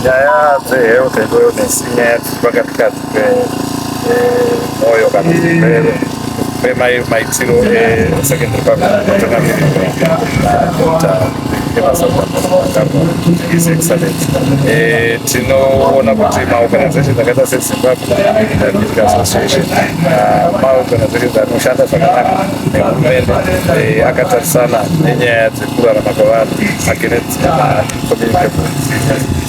nyaya dzehealth and wellness inyaya dziri pakati kati pemwoyo kana zvirwere pemaitiro esecondary public tinoona kuti maorganizations akaita sezimbabwe medical association maorganizations anoshanda zvakanaka nehurumende akatarisana nenyaya dzekurarama kwevanhu against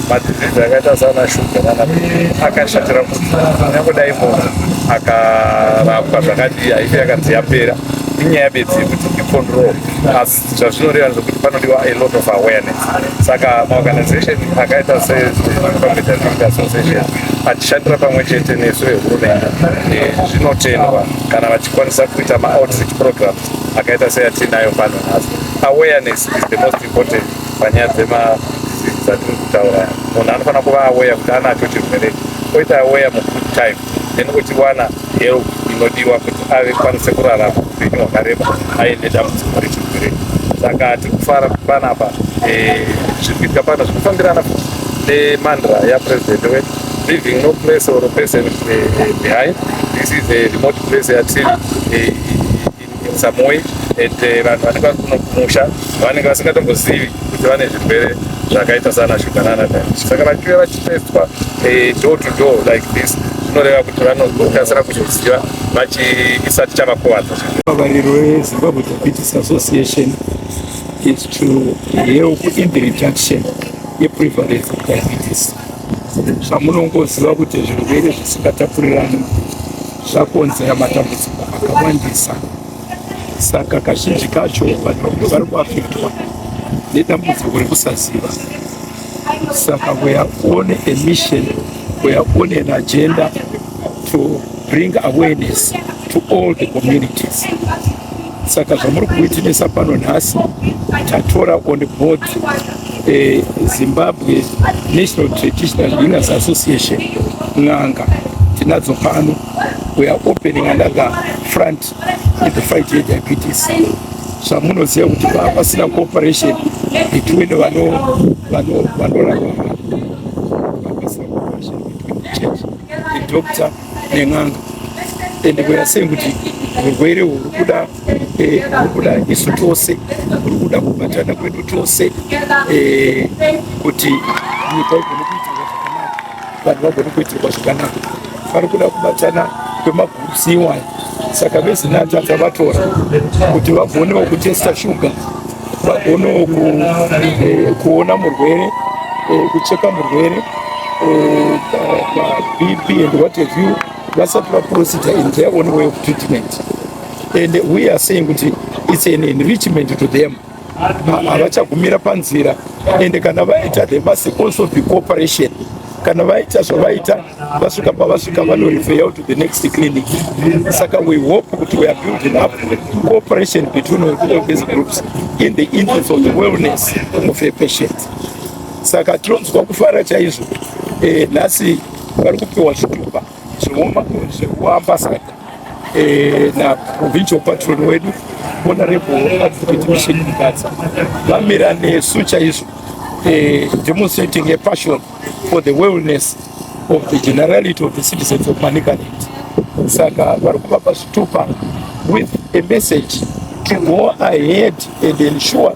madisease akaita sana shuga nana akashatira kuti kunyange dai munhu akarapwa zvakadii haife yakanzi yapera inyaya bedzi yekuti icontrol asi zvazvinoreva ndezvekuti panodiwa a lot of awareness saka maorganization akaita secompetentg association achishandira pamwe chete nesu vehurumende eh, zvinotendwa kana vachikwanisa kuita maoutreach programs akaita seyatinayo pano nhasi awareness is the most important panyaya dzemadisease dzatiri kutaura munhu anofanira kuva aweya kuti anacho chirwere oita aweya mugood time then ochiwana help inodiwa kuti ave kwanise kurarama upenyu hwakareba aine dambudziko rechirwere saka tiri kufara panapa eh, zviri kuitika pano zviri kufambirana nemandra yapresident wedu leaving no place or person eh, eh, behind this is a remote place yatiri in some way and eh, vanhu vanenge vari kuno kumusha vanenge vasingatombozivi kuti vane zvirwere zvakaita sana shuga nana diabetes saka vachiuya vachitestwa eh, door to door like this zvinoreva kuti vanokasira kuzoziva vachiisati chavakuvadza vavariro wezimbabwe diabetes association is to help in the reduction yeprevalence of diabetes zvamunongoziva kuti zvirwere zvisingatapurirani zvakonzera matambudziko akawandisa saka kazhinji kacho vanhu vari kuafektwa nedambudziko rekusaziva saka weare on a mission weare on an agenda to bring awareness to all the communities Saka zvamuri kuitimisa pano nhasi tatora on board eh, Zimbabwe National Traditional Healers Association n'anga tinadzo pano we are opening another front in the fight ye diabetes zvamunoziva kuti pasina cooperation between vanorapa pasina cooperation between the church the doctor nen'anga and we are saying kuti urwere huri kuda eh, huri kuda isu tose huri kuda kubatana kwedu tose eh, kuti nyika igone kuitirwa zvakanaka vanhu vagone kuitirwa zvakanaka vari kuda kubatana kwemagurusi iwaya saka vezinatata vatora kuti vagonewo kutesta shuga vagono eh, kuona murwere eh, kucheka murwere eh, bp and what have you vasati vaprocedure in their own way of treatment and we are saying kuti it's an enrichment to them havachagumira panzira and kana vaita they must also be cooperation kana vaita zvavaita vasvika pavasvika vanorefer to the next clinic saka we hope kuti we are building up cooperation between all these groups in the interest of the wellness of a patient saka tinonzwa kufara chaizvo eh, nhasi vari kupiwa zvitupa zvehuambasada eh, na provincial patron wedu honorable advocate mission mukadzi vamira nesu chaizvo eh, demonstrating a passion for the wellness of the generality of the citizens of manicaland saka vari kuvapa zvitupa with a message to go ahead and ensure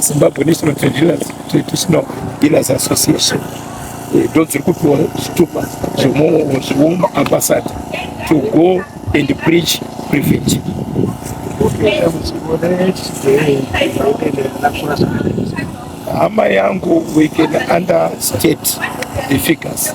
Zimbabwe National Trade Dealers, Traditional Dealers Association eh, ndo dziri kupiwa zvitupa zvehome ambassador to go and preach prevent hama yangu we can understate the figures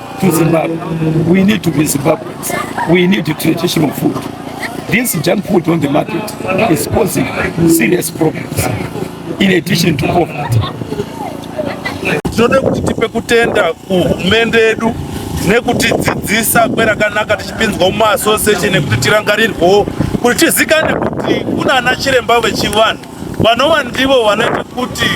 to Zimbabwe. We need to be Zimbabweans. We need the traditional food. This junk food on the market is causing serious problems in addition to poverty. Tinoda kuti tipe kutenda kuhurumende yedu nekutidzidzisa kwerakanaka tichipinzwa muma association nekuti tirangarirwewo kuti tizikane kuti kuna ana chiremba vechivanhu vanova ndivo vanoita kuti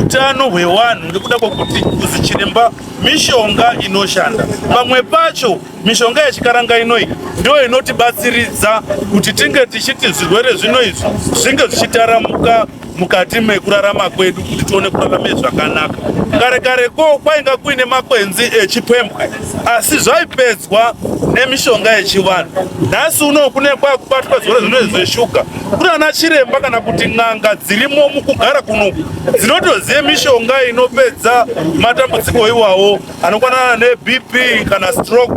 utano hwevanhu ngekuda kwekuti kuzichiremba mishonga inoshanda pamwe pacho mishonga yechikaranga inoyi ndiyo inotibatsiridza kuti tinge tichiti zvirwere zvino izvi zvinge zvichitaramuka mukati mekurarama kwedu kuti tione kurarame zvakanaka kare kare ko kwainga kuine makwenzi echipembwe asi zvaipedzwa nemishonga yechivanhu nhasi uno kune kwakubatwa zvirwere zvino izvi zveshuga kuti ana chiremba kana kuti n'anga dzirimo mukugara kuno dzinotoziva mishonga inopedza matambudziko iwawo anokwanana nebp kana stroke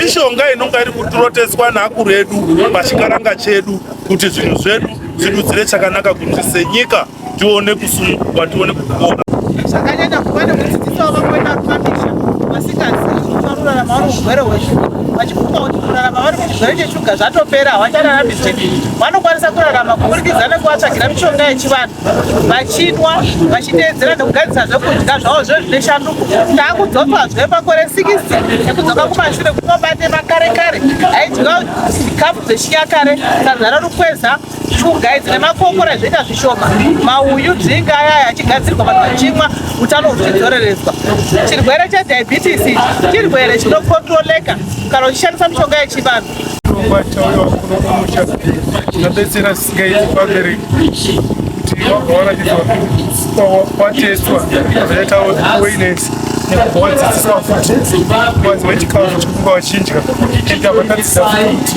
mishonga inonga iri kutiroteswa neakuru edu pachikaranga chedu kuti zvinhu zvedu zvidudzire chakanaka kuti senyika tione kusununguka tione kupora zvakanyanya kuva nekudzidzisawo vamwe vapamisha vasingazivi kuti vanorarama vari urwere hweshuga vachifunga kuti kurarama vari muzvirwere cheshuga zvatopera havachararami zvedi vanokwanisa kurarama kuburikidza nekuvatsvagira mishonga yechivanhu vachinwa vachiteedzera nekugadzisa zvekudya zvavo zve zvine shanduko taakudzoka zve makore 6 ekudzoka kumashure kunobate makare kare aidya zvikafu zvechinyakare sazara rukweza Chugai dzine makokora zvoita zvishoma, mauyu, dzinga aya achigadzirwa vanhu vachimwa utano huchidzoreredzwa. Chirwere chediabetes chirwere chinokontroleka kana uchishandisa mishonga yechivanhu. Chirongwa chauya kuno kumusha chinobetsera sigai vabereki kuti vabva varatidzwa kwatestwa zvakaita awareness nekuvadzidzisa futi kuvanzi vechikafu chekuva vachinja ita vakadzidza futi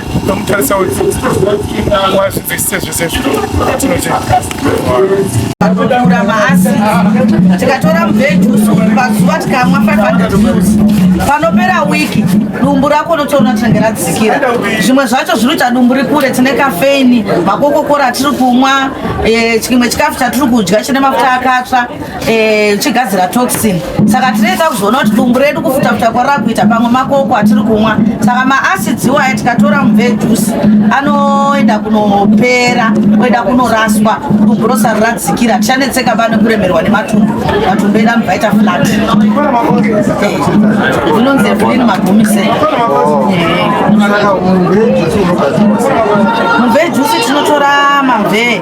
Tomutarisa wazvivese zvese zvinotiakudaura maasi tikatora mubhejusu pazuva tikamwa 500 mils panopera wiki dumbu rako unotoona tinenge radzikira zvimwe zvacho zvinoita dumbu rikure tine kafeini makokokora tiri kumwa eh, chimwe chikafu chatiri kudya chine mafuta akatsva Eh, uchigadzira toxin saka tinoita kuzoona kuti dumbu redu kufutafuta kwarava kuita pamwe makoko atiri kumwa saka maacids iwaya tikatora mubve juice anoenda kunopera oenda kunoraswa dumbu rosari radzikira tichanetseka pane kuremerwa nematumbu matumbu edu anobva aita flat inonzi evelin magumise mubve juice tinotora mamvee